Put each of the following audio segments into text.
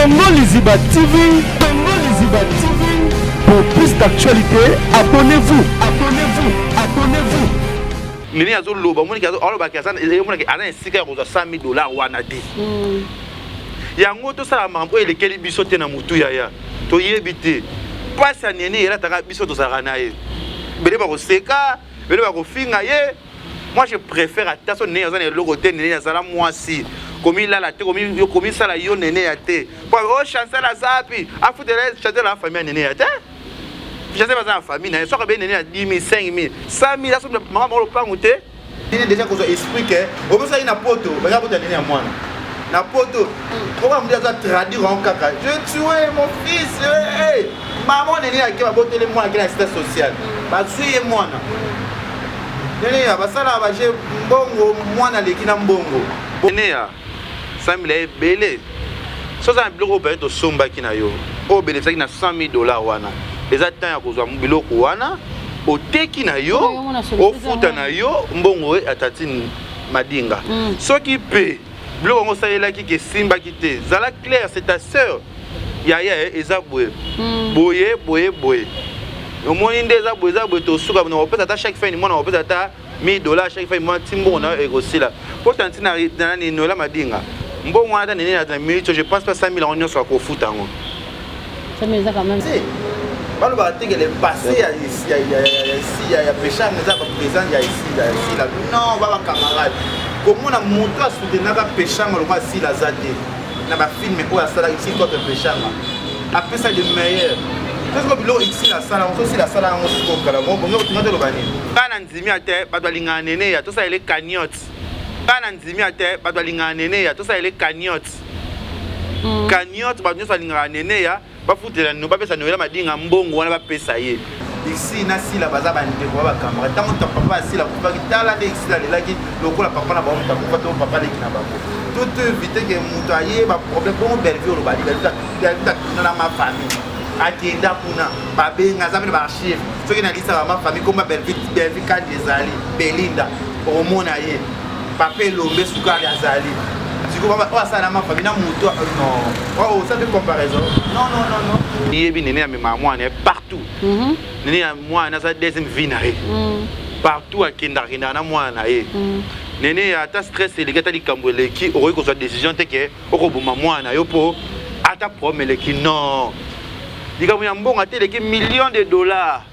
Congo Liziba TV, Congo Liziba TV. Pour plus d'actualité, abonnez-vous, abonnez-vous, abonnez-vous. Nini azo loba moni kazo aloba ki azana ezo mona ki ana esika ya kozwa 100 000 dollars wana te. Hmm. Yango to sala mambo elekeli biso te na mutu yaya. To yebi te. Pasi ya nini elataka biso tozalaka na ye. Bele ba koseka, bele ba kofinga ye. moi je préfère ata so nene aza na eloko te nene azala mwasi komilala te komisala yo nene ya te po o oh, chancel aza api afutela chancel ya famille ya nene ya te chancel aza na famille na ye soki abe nene ya 10 000 5 000 100 000 asomi mama moko lopangu te nene deja kozwa esprit ke obosaki na poto baza kota nene ya mwana na poto oka moto aza traduire yango kaka je tue mon fils eh, eh. Maman nene ya ke baboteli mwana ke na sita social bazwi ye mwana nene ya basalaka baje mbongo mwana aleki na mbongo nene ya sambila ebele so oza na biloko oyo peut-être osombaki na yo oyo obelefisaki na 100 000 dollars wana eza temps ya kozwa biloko wana oteki na yo ofuta na yo mbongo ya tatine madinga mm. soki mpe biloko yango osalelaki ke esimbaki te zala claire c'est ta sœur yaya eh, eza boye hmm. boye boye boye omoni nde eza boye eza boye tosuka na kopesa ata chaque fin du mois na kopesa ata 1000 dollars chaque fin du mois ti mbongo na yo ekosila mpo tanti na nani noela madinga mbongo wana ata nini na minute je pense pas 5000 yango nyonso akofuta yango Sami eza quand même. balobaka te ke le passé ya esi ya peshang eza baprésent ya esi ya esila non ba bacamarade komona moto asoutenaka peshanga lokola asila aza te na bafilme oyo asalaki si contre peshanga apesa de meilleur tosiko biloko isila asala yango tosila asala yango siko kala ngo bongo otinga toloba nini ngai na ndimi ya te bato balingaka nene ya tosalele cagnote ngai na ndimi ya te bato balingaka nene ya tosalele cagnote cagnotte mm. cagnotte bato nyonso balingaka neneya bafutela nino bapesa noela madinga mbongo wana bapesa ye esi na sila baza bandeko ba bakamara ntango ta papa ya sila akufaki tala nde sila alelaki lokola papa na bango moto akufa to papa aleki na bango toto evite ke moto aye baproblème bongo bellevie olobali bellevie na mafamille akenda kuna babenga aza mpe baarchive soki nalisaka mafamille komba bellevie kandi ezali belinda omona ye papa elombe sukari azali sikoyo oyo asala na mafami na moto oyo osali comparaison non non non non iyebi nene amemaka mwana ye partout mhm. nene ya mwana aza deuxième vie na ye mhm. partout akendaka kendaka na mwana na ye mhm. nene ya ata stress eleki ata likambo eleki okoki kozwa décision te ke okoboma mwana na yo mpo ata problème eleki non likambo ya mbongo ata eleki million de dollars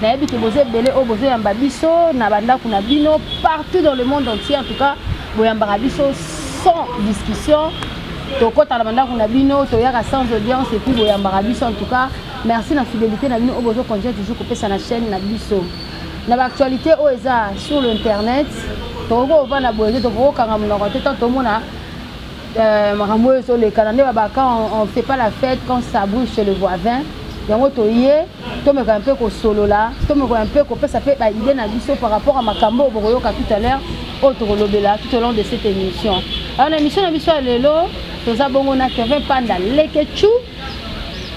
Nayebi que boza ebele oyo bozo yamba biso na ba ndaku na bino partout dans le monde entier en tout cas boyambaka biso sans discussion tokota na ba ndaku na bino toyaka sans audience et puis boyambaka biso en tout cas merci na fidélité na bino oyo bozo continuer toujours kopesa na chaîne na biso na ba actualité oyo eza sur le internet tokoki kovanda boye te tokoki kokanga monoko te tant tomona euh, makambo oyo ezolekana nde babaka on fait pas la fête quand ça brûle chez le voisin yango toye tomeka mpe kosolola tomekola mpe kopesa mpe ba idee na biso par rapport ya makambo oyo bokoyoka tout à l'heure oyo tokolobela tout au long de cette émission alors na émission na biso ya lelo toza bongo na kevin panda lekechou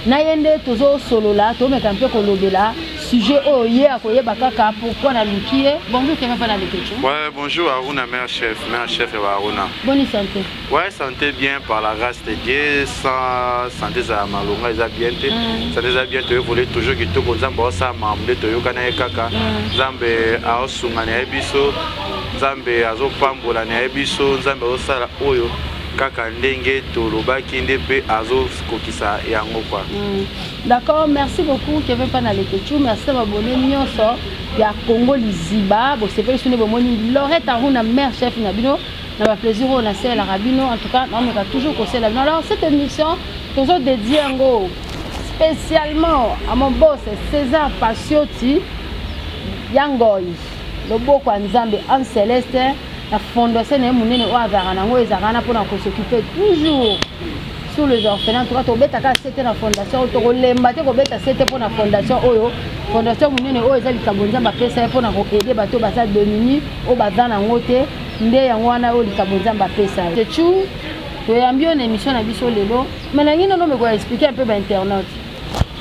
na ye nde tozosolola tomeka mpe kolobela sujet oyo ye akoyeba kaka pourquoi naluki ye bonjour kevin panda lekechou ouais, bonjour aruna mère chef mère chef ya baaruna boni sante Ouais, santé bien par la grâce de Dieu, sans santé za malonga eza bien te. Mm. Santé za bien te voler toujours que tout nzambe osa mambe to yokana ye kaka. Mm. Nzambe aosunga na biso. Nzambe azopambola na biso, nzambe azosala oyo kaka ndenge tolobaki nde mpe azokokisa yango kwa mm. d'accord merci beaucoup keve mpa na lekechou merci na babone nyonso ya congo liziba bosepeli so nde bomoni lorette aruna mare chef na bino na ba plaisir oyo nasalelaka bino en tout cas naomeka toujours kosalela bino alors cette émission tozo dédie yango spécialement à mon boss César Pasioti ya ngoi loboko ya nzambe en celeste na fondation na ye monene oyo azalaka nango ezalaka wana mpona kosokipe toujours sur les orphelins toka tobetaka sete na fondation oyo tokolemba te kobeta sete mpo na fondation oyo fondation monene oyo eza likambo nzambe apesa ye mpo na koede bato baza demini oyo baza nango te nde yango wana oyo likambo nzambe apesa yo techu toyambi yo na émission na biso lelo me nangi nono mekoya explike un peu bainternaute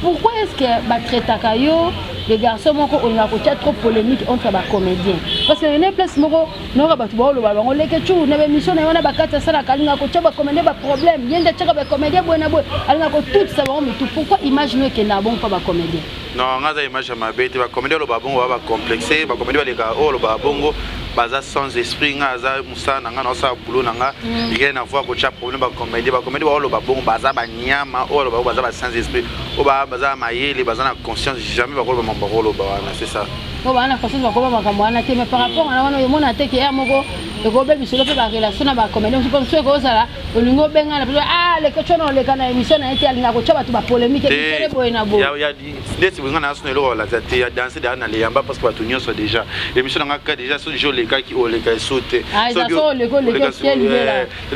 pourquoi est ce que batraitaka yo de garçon moko olingaka kotya trop polémique entre bacomédien parce que ene place moko nayoka bato baoloba bango leke cu na baémission na ye wana bakati asalaka alingaka kotya bacomédien baproblème ye nde atyaka bacomédien boye na boye alingaka kotutisa bango mitu pourquoi image no ekendaka bongo mpo bacomédien Non, nga za image ya mabe te ba comédien loba bongo ba complexe, ba comédien baleka oh loba bongo baza sans esprit nga aza musala na nga na osala boulot na nga mm. rien na voir kotia problème ba comédien ba comédien ba loba bongo baza ba nyama oh loba baza ba sans esprit oh ba baza mayele baza na conscience jamais ba koloba mambo ko loba wana c'est ça. Bo ba na conscience ba koloba makambo wana te mais par rapport na wana yo mona te ke ya moko ekobebisa yo mpe ba relation na ba comédien je pense que ekozala olingi obenga na biso ah leke tshona oleka na émission na ye te alinga kotya bato bapolémike misele boye na boye ndeti bolinga na asuna eloko balakisa te ya danse deya na leyamba parce que bato nyonso déjà émission na ngaka déjà soki je olekaki oleka eso te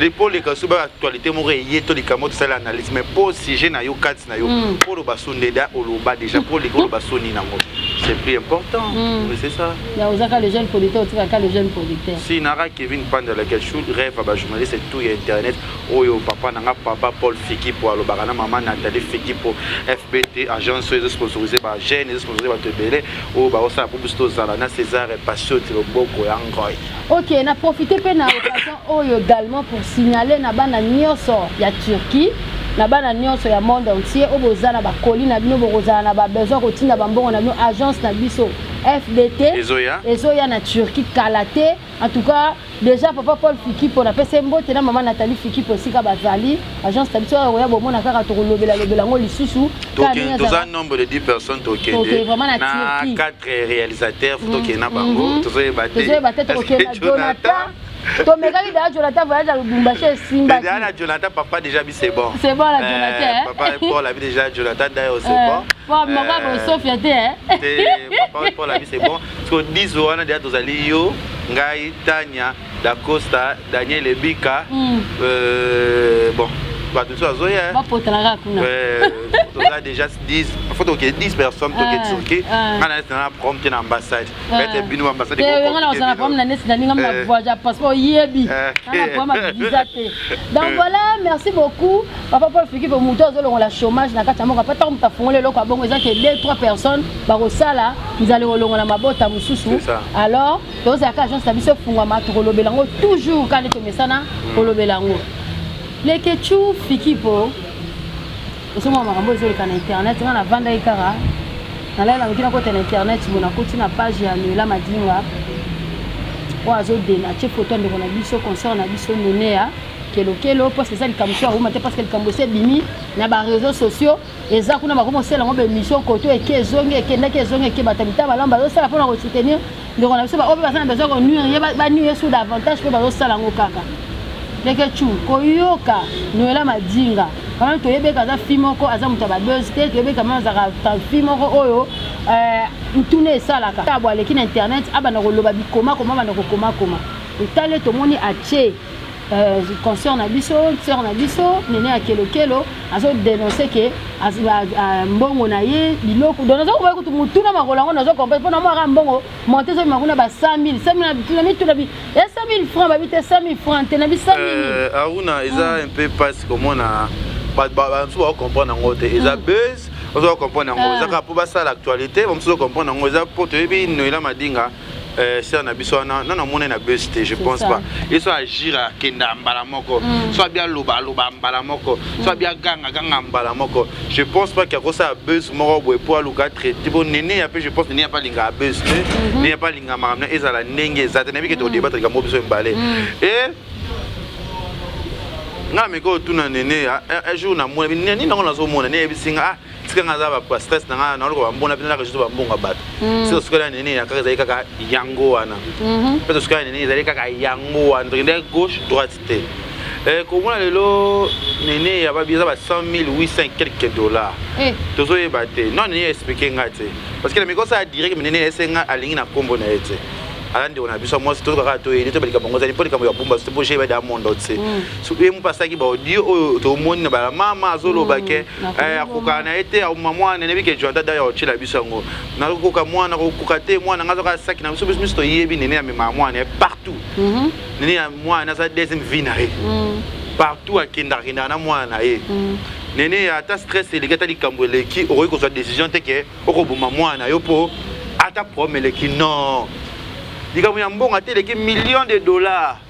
mpo oleka so ba actualité moko eye to likambo tosali analyse mais mpo sujet na yo kati place na yo mm. po oloba soni deja oloba deja po olingi oloba soni nango c'est plus important mm. mais c'est ça ya ozaka le jeune producteur otikaka le jeune producteur si nara kevin panda la kachou rêve ba journaliste tout ya internet oyo papa nanga papa paul fiki po alobaka na maman nathalie fiki po fbt agence oyo ezosponsorise ba jeune ezosponsorise bato ebele oyo baosala po biso tozala na césar passion tiloboko ya ngoi Ok, na profite pe na occasion oyo également pour signaler na bana nioso ya Turquie na bana nioso ya monde entier oyo boza na bakoli na bino bokozala na babesoin kotinda bambongo na bino agence na biso fdt ezoya ezoya na turquie kala te en tout cas déjà papa paul fikipo napesi mbote na mama nathalie fikipo esika bazali agence na biso oyo koya bomona kaka tokolobela lobela yango lisusu toza nombre de 10 personnes tokende na 4 réalisateur fo tokende na bango mhm. tozoyeba te tozoyeba te tokokende na jonathan tomekaki deja jonathan voyage ya lubumbashi esimbaki deja na jonathan papa déjà bi c'est bon c'est bon la eh, jonathan eh? papa paul abi déjà jonathan d'ailleurs c'est eh, bon papa moko ako sofia te te papa paul abi c'est bon parce que 10 wana deja tozali yo ngai tania Dacosta, Daniel Ebika, mm. euh, bon, bato mosusu azoya bapotanaka kuna toza déjà 10 faut toke 10 personnes toke turki nga na neti na prom te na ambassade ete bino ambassade nga na ozala prom na neti na ninga ma voyage ya passeport yebi na prom ma visa te donc voilà merci beaucoup papa Paul Fiki po muto azolongola chômage na kati ya mboka pata mutu afungoli eloko ya bongo eza ke 2 3 personnes bakosala nzali kolongola mabota mosusu alors tozala ka agence na biso efungwama tokolobela yango toujours kaka nde tomesana kolobela yango lekechu fikipo ozomona makambo ezoleka na internet nga navandaki kaka nalala noki nakota na internet bo nakoti na page ya noela madinga oyo azodena atie foto ya ndeko na biso concert na biso neneya kelokelo parce que eza likambo so aruma te parce que likambo esi ebimi na bareseau sociaux eza kuna bakomi kosala yango baemission koto eke ezongi ekendaki ezongi eke bato ya mitaba malamu bazosala mpona kosoutenir ndeko na biso baoyo mpe baza na besoin konuire ye banuire ye sur davantage mpe bazosala yango kaka ndeke chu koyoka noela madinga kama toyebeka aza fi moko aza moto ya babuse te toyebeka ma azalaka fi moko oyo eh, ntuna esalaka abo aleki na internet abanda koloba bikomakoma abanda kokomakoma etale tomoni atie consort na biso sœur na biso nene ya kelokelo azo denoncer ke mbongo na ye biloko donc nazo koba kutu mutuna makolo yango nazo comprendre mpo na mwa kaka mbongo monte ezo bima kuna ba 100000 100000 mituna bi e 100000 francs babi te 100000 francs te na bi 100000 euh, aruna eza hmm. un peu pasi komona bato bamosusu bakokomprendre yango te eza hmm. buzz ozo comprendre yango ah. eza kaka mpo basala actualité bamosusu ozo comprendre yango eza mpo toyebi noela madinga Euh, sœur na biso wana nano amonani na bus te je pense pas ye so agira akenda mbala moko mm. so abia aloba aloba mbala moko so mm. abia ganga ganga mbala moko je pense pas kiakosala bus moko boye mpo aluka traite mpo nene ya mpe je pense nene ya mpe alingaka bus te mm-hmm. nene ya mpe alingaka makambo na ezala ndenge eza te nayebi kete kodebatre mm. likambo biso mibale e nga meka otuna nene ya un jour namona nini nango nazomona neyebisi nga ah tika nga za ba stress na nga na lokola ba mbona pina ka juste ba mbonga bato mm. sio sukela nini ya kaka zali kaka yango wana mm-hmm. pe sukela nini zali kaka yango wana donc ndai gauche droite te eh ko mona lelo nene ya ba biza ba 100800 quelques dollars eh. tozo yeba te non nene expliquer nga te parce que na mikosa ya direct nene esenga alingi na kombo na yete ala ndeko na biso mwasi toyoka kaka toyeli toyeba likambo yango ezali mpo likambo ya bumba soki bosheba da mondo te soki ye mopasaki baodio oyo tomoni na balamama azoloba ke eh, akoka na ye te auma mwana enebi ke joanta daya otyela biso yango nakokoka mwana kokoka te mwana ngai azaka saki na biso biso miso toyebi nene amemaka mwana ye partout mhm. nene ya mwana aza deuxième vie na ye mhm. partout akendaka kendaka na mwana na ye mhm. nene ata stress eleki ata likambo eleki okoki kozwa décision te ke okoboma mwana na yo mpo ata problème eleki non likambo ya mbongo ata eleki million de dollars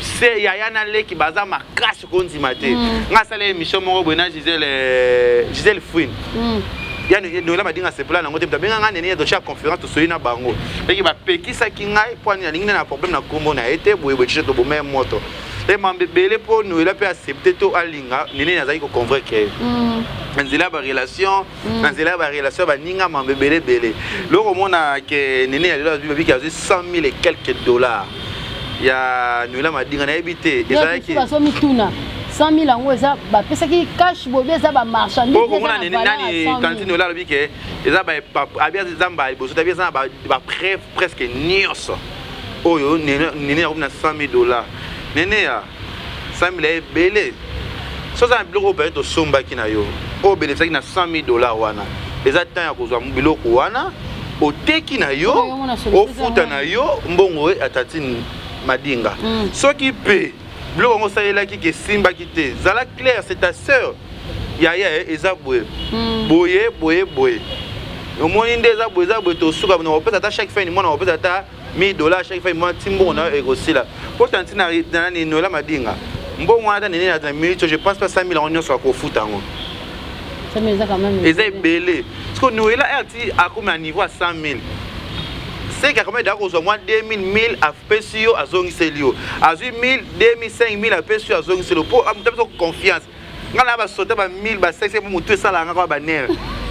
se yaya na leki baza makasi kondima te mm. nga asala émission moko boye na gisele euh, gisele fouine mm. ya noela madinga asepela nango te abenga ngai nene totia conférence tosoli na bango leki bapekisaki ngai mpo alingi na problème na nkombo na ye te boye boye tiso toboma ye moto e mambe ebele mpo noela mpe accepte to alinga nene azalaki koconvaincre ye mm. nzela ya barelation Mm. na nzela ya barelation ya baninga mambo ebele ebele loko omona ke nene ya lelo azwi babiki azwi 100 000 et quelques dollars ya noela madinga nayebi te ezalaki bazomituna 100000 yango eza bapesaki cash bobi eza bamarchandiseomona nani kantine ola alobi ke eza abi eza mbala liboso tabi eza na bapreuve presque nyonso oyo nene yakomi na 100000 dollars nene ya 100 000 ya ebele so oza na biloko oyo peut-être osombaki na yo oyo obenefisaki na 100 000 dollars wana eza temps ya kozwa biloko wana oteki na yo ofuta na yo mbongo ya tatine madinga mm. soki mpe biloko yango osalelaki ke esimbaki te zala claire c'est ta sœur yaya eza boye mm. boye boye boye omoni nde eza boye eza boye tosuka na kopesa ata chaque fin du mois na kopesa ata 1000 dollars chaque fois moi timbongo na ekosila pota ntina na nani noela madinga mbongo wana ata nini na minute je pense pas 5000 yango nyonso akofuta yango eza ebele siko noela rt akomi na niveau ya 100000 seke akomi eda kozwa mwa 2000 1000 apesi yo azongiseli yo azwi 1000 2000 5000 apesi yo azongiseli yo mpo moto apesa confiance nga na ba sota ba 1000 ba 500 pour mutu esala nga kwa ba nerf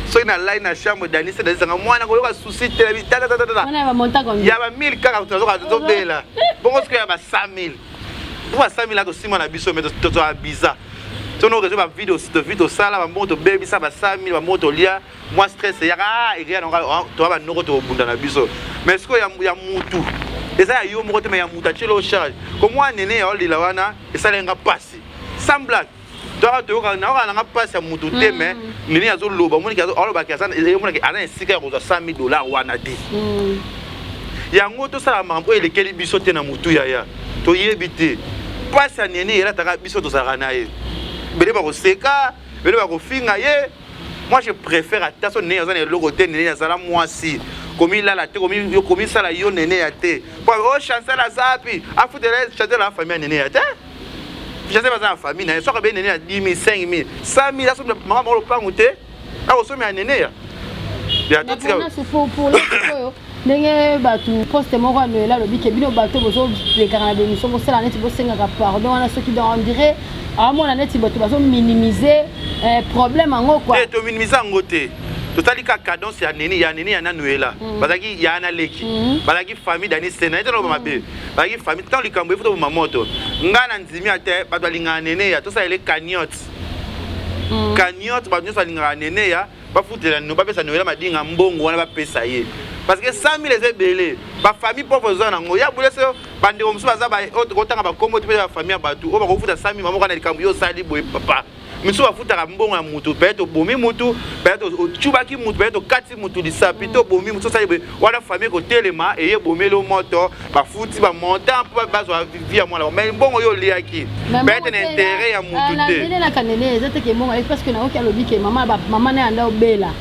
soki na lai na chambre dani se dani sanga mwana ko yoka souci te bi tata tata tata ya ba 1000 kaka to zoka to bela bongo soki ya ba 5000 pour ba 5000 la to sima na biso mais to to abiza soki okezwi bavide tovi tosala bambongo tobebisa basala mini bambongo tolia mwa stress eyaka ah, ekeya nango ah, toa banoko tobunda na biso mais sikoyo ya mutu eza ya yo moko te me ya mutu atyeli o charge komwa nene ya olela wana esaleli nga mpasi sans blague toyaka toyoka nayoka nanga mpasi ya moto te mais mm. nini azoloba omoniki alobaki omonaki aza na esika ya kozwa 100 000 dollar wana te mm. yango tosala makambo oyo elekeli biso te na motu yaya toyebi te mpasi ya nini elataka biso tozalaka na ye bele bakoseka bele bakofinga ye moi je préfère ata so nene aza na eloko te nene azala mwasi komilala te komisala yo nene ya te po o oh, chancel azapi afutela chancel ya famille ya nene ya te joseph aza na famille na ye soki abei nene ya 10 000 5 000 100 000 asomi mama moko lopangu te akosomi ya nene ya yatotikaaoyo ndenge bato poste moko ya noela alobi ke bino bato bozopekaka na bemission bosala neti bosengaka pardon wana soki donc on dirait aomona neti bato bazominimize eh, problème yango kua eh, tominimize yango te totali ka cadence ya nini ya nini ya na noela hmm. bazalaki ya na leki hmm. bazalaki famille dani sena ete naloba mabe hmm. Bayi famille tant likambo efuta boma moto. Nga na ndimi ate bato balingana neneya tosala ele cagnotte. Mm. Cagnotte bato nyonso balingaka neneya bafutela no bapesa noela madinga mbongo wana bapesa ye parce que 100 000 eza ebele bafamille pauvre eza nango ya bule so bandeko mosusu baza otanga bakombo te mpe ya bafamille ya bato oyo bakofuta 100 000 mamoko na likambo yo osali boye papa misusu bafutaka mbongo ya mutu peut-être obomi mutu peut-être otubaki mutu peut-être okati mutu lisapi to obomi mutu osali boye wana famille kotelema eye ebomeli o moto bafuti bamontant mpo bazwa vi ya mwana mai mbongo yo oliaki peut-être na intérêt ya mutu ah, te na kanele eza teke mbongo ye parce que nayoki alobi ke mama mama na yanda obela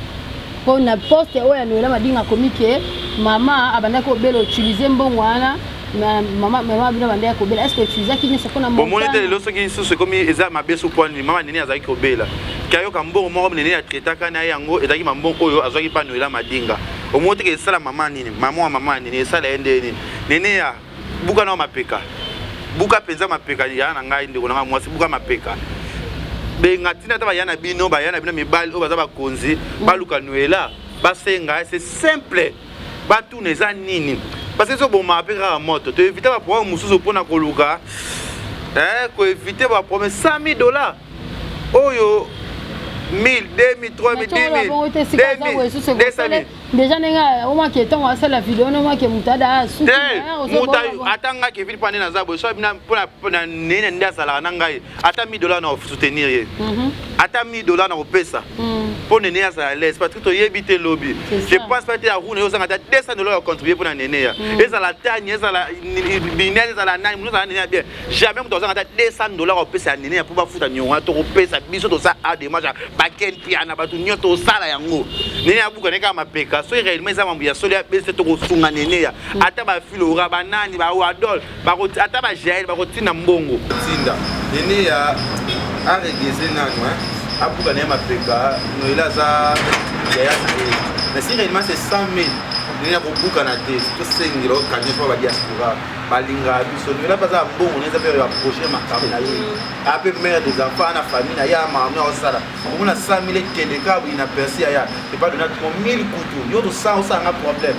mpo na poste oyo ya noela madinga akomi ke mama abandaki obela utilize mbongo wana mama mama bino bande ya kobela est-ce que tu zaki nyoso pona mama bomoni te lelo soki lisusu ekomi eza mabe su pwa nini mama nini azalaki kobela kayoka mbongo moko nini ya traitaka na ye yango ezalaki mambongo oyo azwaki mpa noela madinga omoni teke esala mama nini mama wa mama nini esala ye nde nini nene ya buka na mapeka buka mpenza mapeka ya na ngai ndeko na ngai mwasi buka mapeka benga ntina ata baya na bino baya na bino mibali oyo baza bakonzi baluka noela basenga se simple batuna eza nini parce que ezobomaka mpe kaka moto to evite baproblème mosusu mpo na koluka eh, koevite baproblème 100 000 dollars oyo 1000 2000 3000 10000 2000 deja ndenge omaki ntango asala video wana omaki moto ada sukiata nga kevin mpo nde naza boye so mpona nene nde azalaka na ngai ata 1000 dollars na soutenir ye mhm. ata 1000 dollars na kopesa mpo mhm. nene azala lese parce que toyebi te lobi je pense pas te ya rune ozanga ata 200 dollars ya contribuer mpo na nene ya mhm. ezala tani ezala binel ezala nani moto azala nene ya bien jamais moto azanga ata 200 dollars ya kopesa ya nene ya mpo bafuta niongo wana tokopesa biso tosa a demage ya baken piana bato nio tosala yango nene ya buka nekaka mapeka soki réellement eza mambo ya solo ya bese tokosunga nene ya ata bafilora banani bawadol bako ata ba jael bakotinda mbongo tinda ene ya aregeze nanu abuka na ye mapeka noela aza yaya na ye mais si réellement c'est 100 000 ndenge ya kobukana te tosengela okanye mpo badiaspora balingaka biso noela baza mbongo neza mpe baproche makambo na ye mm. ape mare des enfants na famille na ye amamia osala omona 100 000 ekende kaka boyi na persi yaya epa dona 1000 kutu yo tosala osala nga problème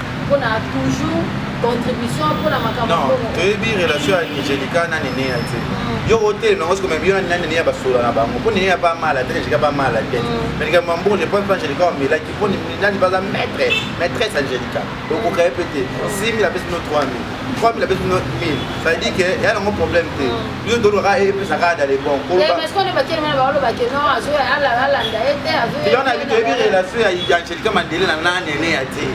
pona toujours contribution pona makambo non toyebi relation ya Angelica na Nene ya te mm. yo otelema yango sikoyo meme yo na Nene ya basola na bango mpo Nene ya ba mala te Angelica ba mala te mm. mais likambo mbongo je pense Angelica omelaki mpo nani baza maître maîtresse Angelica okoka ye mpe te 6000 apesi no 3000 3000 abeti no 1000 ça veut dire que ya nango problème te yo tolobaka epesa kaka dale bon kolobakilona yebi toyebi relation ya angelika mandele na nanene ya te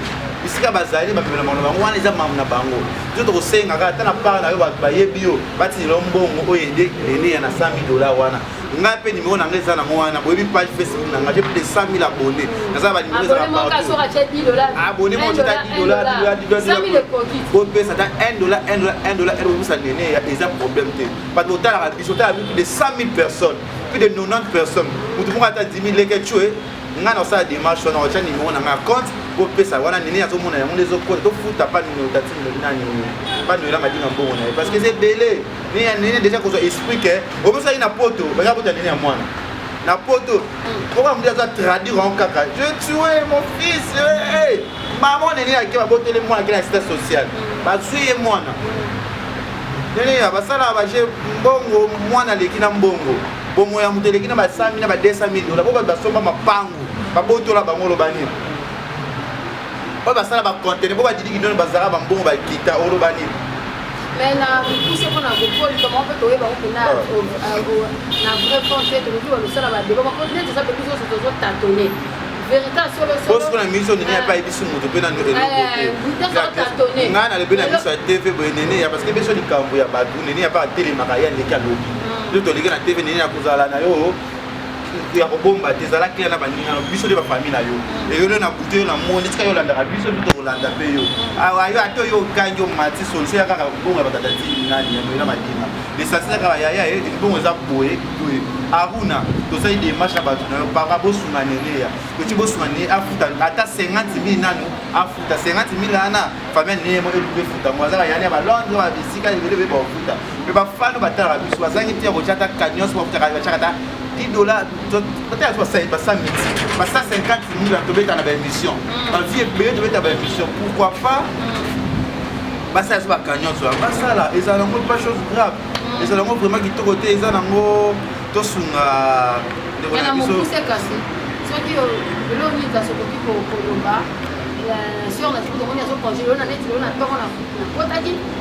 bisika bazali bamemela mano bango wana eza mamu na bango biso tokosengaka ata na part na yo bato bayebi yo batinela mbongo oyo ede lene ya na 100 dola wana ngai mpe nimero na ngai eza nango wana boyebi page facebook na ngai plus de 100 000 abonné naza ba nimero eza abonné mo tika 10 dollars bopesa ata 1 dollar 1 dollar 1 dollar ebopesa nene eza problème te parce que otalaka biso otalaka plus de 100 000 personnes plus de 90 personnes motu moko ata 10 000 leke tue ngai nakosala démarche wana otya nimero na ngai compte bopesa wana nini azomona yango nde ezokota tofuta pa minotatine nani pa noela madinga mbongo na ye parce que eza ebele nini ya nini deja kozwa esprit ke obosaki na poto baza kota nini ya mwana na poto oka moto aza traduire yango kaka je tue mon fils hey! mama nini yake baboteli mwana ke na sita sociale bazwi ye mwana nini ya basala baje mbongo mwana aleki na mbongo bomo ya moto eleki na ba 100 na ba 200 dola po bato basomba mapangu babotola bango loba nini oyo basala bacontene mpo badidi kindono bazalaka bambongo bakita oloba nini me na mikuse mpo na kokoli kama mpe toyeba kutu na ah. euh, na vrai fond te tokoki balosala badeba mpo neti eza mpe biso nyonso tozotatone bosiko na miso nini ape ayebisi moto mpe nano elokongana eh, nalobi na miso ya tv boye nene ya parceke biso likambo ya bato nene ya mpe atelemaka ye aleki alobi nde toleki na tv nene ya kozala na yo ya kobomba te ezala kila na baninga no biso nde bafamille na yo eyolo na butu yo na moni tika yo olandaka biso mpe tokolanda mpe yo awa yo ata yo okangi omati solise ya kaka kobongo ya batata ti nani ya moyela madina lesasila kaka yaya ye libongo eza boye boye aruna tosali demarche na bato na yo papa bosunga neneya toki bosunga neye afuta ata 50 mille nanu afuta 50 mille ana famille neye mo eluki efuta mo azaka yani ya balondre ya bisika ebele bebe baofuta mpe bafano batalaka biso bazangi te ya kotya ata cagnos bakutaka batyaka ata 10 dollars batala biso basali basa miti basa 50 mille tobeta na baémission mm. bavie ebele tobeta baémission pourquoi pas mm. basala biso bacagnos wana basala ezala nango pas chose grave mm. ezala nango vraiment kitoko te eza nango tosunga ndeko na biso soki eloko nini kasi okoki koloba sur na soki tomoni azokongele yo na neti lelo na ntongo na kotaki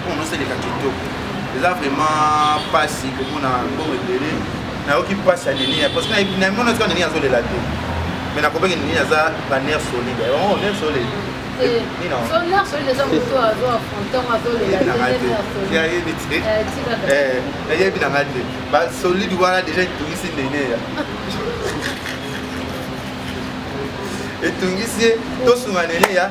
Mbongo nosaleka kitoko. Eza vraiment pasi komona mbongo ebele. Nayoki pasi ya Nenia parce que nayebi na mona tika Nenia azolela te. Mais nakopeki Nenia aza ba nerf solide. Oh, nerf solide. Eh, Nina. So nerf solide eza moto azo affronter ngo azolela te. Nayebi te. Eh, nayebi na ngate. Ba solide wana déjà itungisi Nenia. etungisi ye tosunga nene ya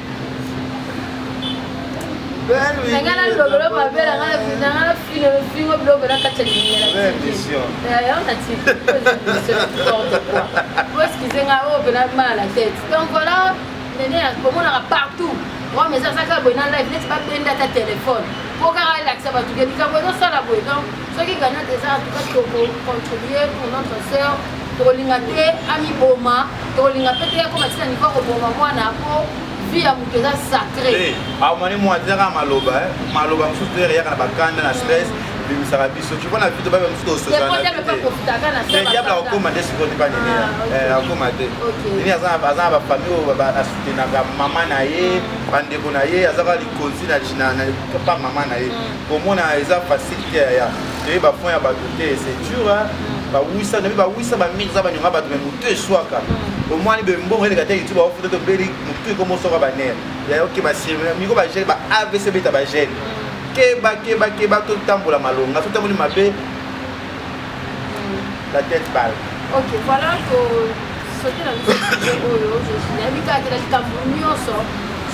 nanga na lobelo mabe nanga na fina nanga na fina fingo biloko na kati ya lingela yango na tiporte quoi po eskize nga oyo pena mala na tete donc voilà nene komonaka partout oyo meza azaka boye na live neti babenda ata telefone po kaka elakisa bato ke likambo ezosala boye donc soki gagnant eza en tout cas toko contribuer pour notre sœur tokolinga te amiboma tokolinga mpe te akoma tina niveau akoboma mwana mpo vie ya moto eza sacré eh, amoni ah, mwa tera maloba eh. maloba mosusu tera eyaka na bakanda na stress bimisaka biso tu vois na vie tobabe mosusu tososanadiable akokoma te sikoyo tipa nini ah, eh, akokoma te nini aza na bafamille oyo asutenaka mama na ye bandeko na ye azaka likonzi na pa mama na ye mm. komona eza facile te yaya toye bafond ya bato te c'est dur bawisa nabi bawisa bamingi eza banyonga bato me motu eswaka mm. omwani bembongo eleka te youtube aofuta tobeli motu ekomi oswaka banere yaya okeba sirmina miko bagele ba avc beta bagele mm. keba keba keba totambola malonga totamboli mabe mm. la tête bale ok voilà ko soki na biso oyo nayebi kaka te na likambo nyonso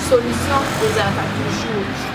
solution ezalaka toujours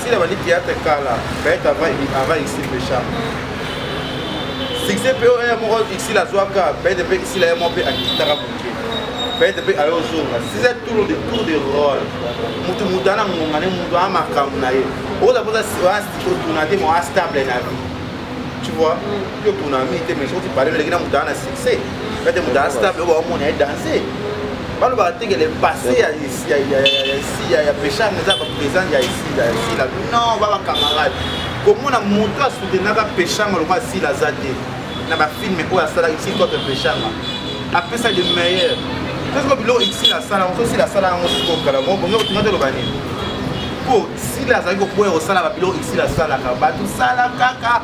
Sila bandi théâtre kala, Gaël avant avant ici le chat. Succès PO ya moko ici la zwaka, Gaël pe ici la moko pe akitaka boke. Gaël pe ayo zonga. Sila tour de tour de rôle. Mutu mutu ana ngonga ne mutu a makambo na ye. Oza poza wa stiko tuna te mo a stable na vie. Tu vois? Yo tuna mi te mais soki parle leki na mutu ana succès. Gaël mutu a stable ba mona ye danser. Balo ba teke le passé ya ya ya ya siya ya peshanga eza bapresent ya esila ya sila non ba bacamarade komona moto asutenaka peshanga lokola sila aza te na bafilme oyo asalaki si contre peshanga apesa de meilleur tosiko biloko sila asala yango so sila asala yango sikoyo kala ngo bongo otinga toloba nini mpo sila azali koboya kosalaka biloko sila asalaka bato sala kaka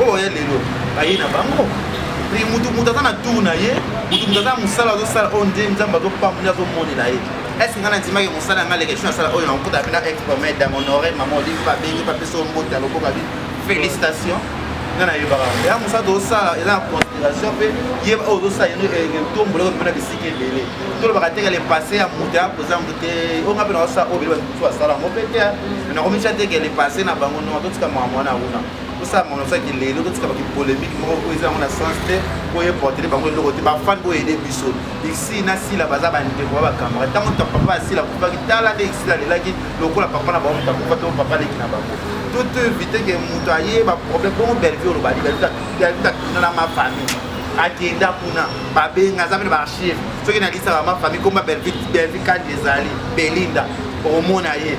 oyo oh, ya lelo baye na bango mpe motu motu aza na tour na ye motu motu aza na mosala azosala oyo oh, nde nzambe azopambola azomonela ye eske ngai nandimaki mosala yanga leka esho asala oyo oh, nakokuta mpe na exprome dame honore mama olive babengi bapeso mbote ya lokoka bi félicitation nga nayebaka ya mosala tozosala eza na conspiration mpe ye oyo ozosala yeno etombola oyo mpona bisika ebele tolobaka teke le passé ya moto ya kozango te oyo nga mpe naosala oyo bele bakutu asala yango mpe te nakomitya teke le passé na bango nonga totika makambo wana kuna osala monosaki lelo totika baki polemique moko oyo eza yango na sens te oyo eportele bango eloko te bafani oyo ede biso isi na sila baza bandeko ba bakamara ntango ta papa ya sila akufaki tala nde isila alelaki lokola papa na bango moto akufa to papa leki na bango tout évite ke moto aye baproblème bongo bellevue oloba ali bellevue tatuna na ma famille akenda kuna babenga aza mene baarchive soki nalisaka ma famille komba bellevue kandi ezali belinda omona ye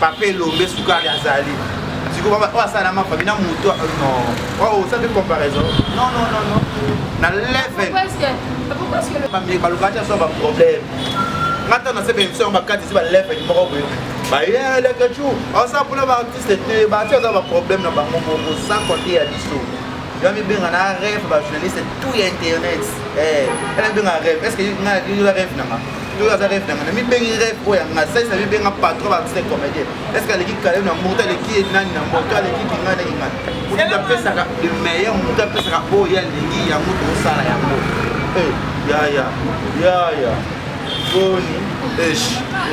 papa elombe sukari azali sikoyo oyo asala na mafami na moto oyo osali comparaison non non non non na level balukaki aso baproblème nga ntango nase baémission yango bakati esi balevel moko boye bayelekechou osa mpona baartiste te baartiste aza baproblème na bango moko sans compte ya biso yo mibenga na rêve bajournaliste tout ya internet eh, ela mibenga rêve est ce que nga rêve nanga toyo aza rêve nanga namibengi rêve oyo ya nga saisa mibenga patron baartiste comédien est ce que aleki kale na mboto aleki ye nani na mboto aleki kinga na kinga moto apesaka le meilleur moto apesaka oyo ye alingi yango tokosala yango eh, yaya yaya boni esh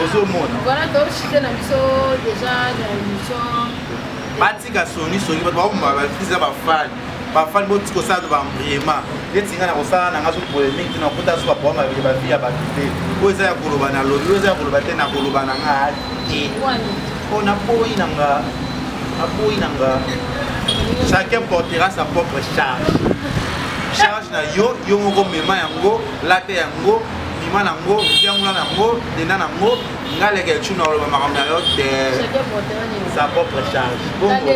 ozomona voilà toshike na biso déjà na émission batika songisongi bato bakomaka bakrisi na bafani bafani botiki kosala to baembriema neti ngai nakosala na ngai so polemike te nakota so bapoa mabele bavi ya bato te oyo eza ya koloba na lobi oyo eza ya koloba te nakoloba na ngai te mpo naboyi na nga naboyi na nga chacun portera sa propre charge charge na yo yo moko mema yango lata yango bima na yango yangola na yango denda na yango ngai leke ecu na koloba makambo na yo te sa propre charge bongo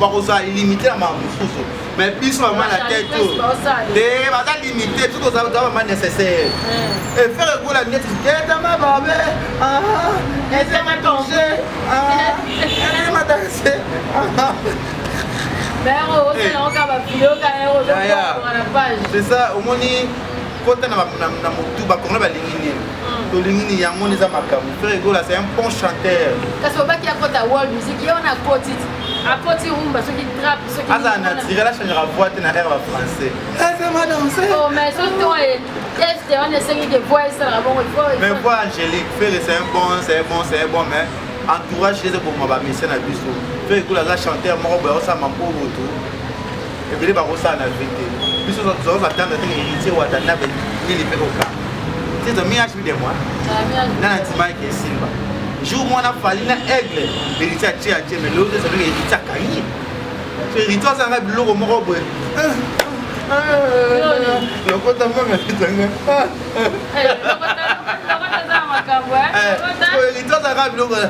bakozala limite na makambo mosusu mais biso bama na tete oyo te baza limite biso tozala bama nécessaire efere ekola neti etama babe etama tonge etama danse c'est ça omoni kota na motu bakongole balingi nini tolingi ni yango wana eza makambo frere gola c'est un bon chanteur kasi obaki akota world music ye wana akoti akoti rumba soki trap soki aza naturel achangera voix te na air ba français oh, mais so to ye teste wana esengi ke voix esalaka bongo mais voix angélique frere c'est un bon c'est un bon c'est un bon mais entourage eza koboma bamesien na biso frere gola aza chanteur moko boye osala mampo botu ebele bakosala na vie te biso tozalaki atendre te héritier watanabe nini mpe koka tizo mi age de moi na na ntimaki esimba jour mwana fali na aigle héritier atie atie mais lelo ezali na héritier akangi so héritier azalaka biloko moko boye lokota mama ezanga héritier azalaka biloko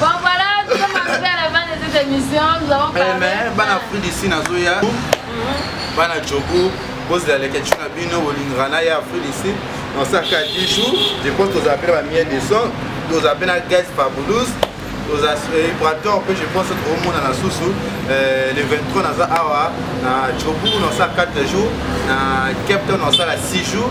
Bon voilà, nous sommes arrivés à la fin de cette émission. Nous avons eh, parlé. Mais, ben, Afrique d'ici, Nazoya. bana jogo bozela leke ti na bino bolingaka na ye afrique ici nosaka 10 jours je pense tozala mpe na bamie de son tozala mpe na gaz fabulous toza equateur mpe je pense tokomonana susu euh, le 23 naza awa na jobourg nosala 4 jours na cape town nosala 6 jours